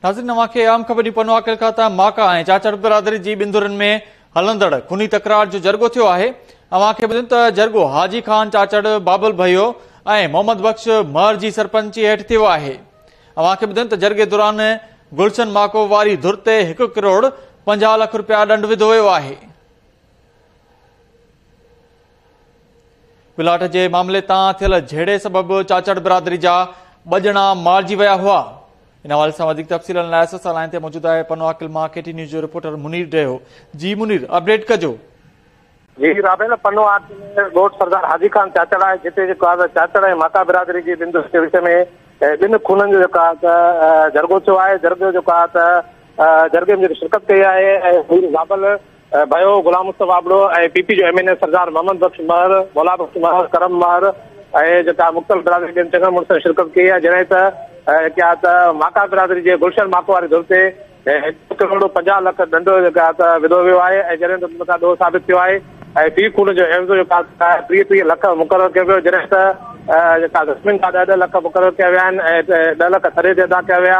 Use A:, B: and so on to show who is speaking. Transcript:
A: ناظرين اوهان کي اهم خبر ڏيون پنو عاقل کان ته ماڪا ۽ چاچڙ برادري جي ٻنڌرن ۾ هلندڙ خوني تڪرار جو جرڳو ٿيو آهي اوهان کي ٻڌن ته جرڳو حاجي خان چاچڙ بابل ڀيو ۽ محمد بخش مهر جي سرپنچي هيٺ ٿيو آهي اوهان کي ٻڌن ته جرڳي دوران گلشن ماڪو واري ڌر تي هڪ ڪروڙ پنجاهه لک رپيا ڏنڊ وڌو ويو آهي پلاٽ جي معاملي تان ٿيل جهيڙي سبب چاچڙ برادري جا ٻه ڄڻا مارجي ويا هئا ان حوالي سان وڌيڪ تفصيل لاء ايس ايس لائن تي موجود آهي پنو عاقل مان K T N news reporter Munir Deho جي منير اپڊيٽ ڪجو جي
B: رابيل پنو عاقل ڳوٺ سردار حاجي خان چاچڙ آهي جتي جيڪو آزاد چاچڙ ۽ ماتا برادري جي ٻن دوستن جي وچ ۾ ٻن خونن جو جيڪو آهي ته جرڳو ٿيو آهي جرڳو جيڪو آهي ته جرڳي ۾ جيڪي شرڪت ڪئي آهي ۽ رابيل ڀائيو غلام مصطفيٰ ابڙو ۽ پي پي جو M N A Sardar Muhammad Bakhsh Mahar, Mola Bakhsh مهر، ڪرم مهر ۽ جيڪا مختلف برادري جي چڱن مڙسن شرڪت ڪئي آهي جڏهن ته جيڪا ته ماڪا برادري جي گلشن ماڪو واري ڌر تي هڪ ڪروڙ پنجاهه لک ڏنڊ جيڪا ته وڌو ويو آهي ۽ جڏهن ته جيڪا ڏوهه ثابت ٿيو آهي ۽ في خون جو عيوضو جيڪا ٽيهه ٽيهه لک مقرر ڪيو ويو جڏهن ته جيڪا زخمين جا ڏهه ڏهه لک مقرر ڪيا ويا آهن ۽ ڏهه لک ٿري تي ادا ڪيا ويا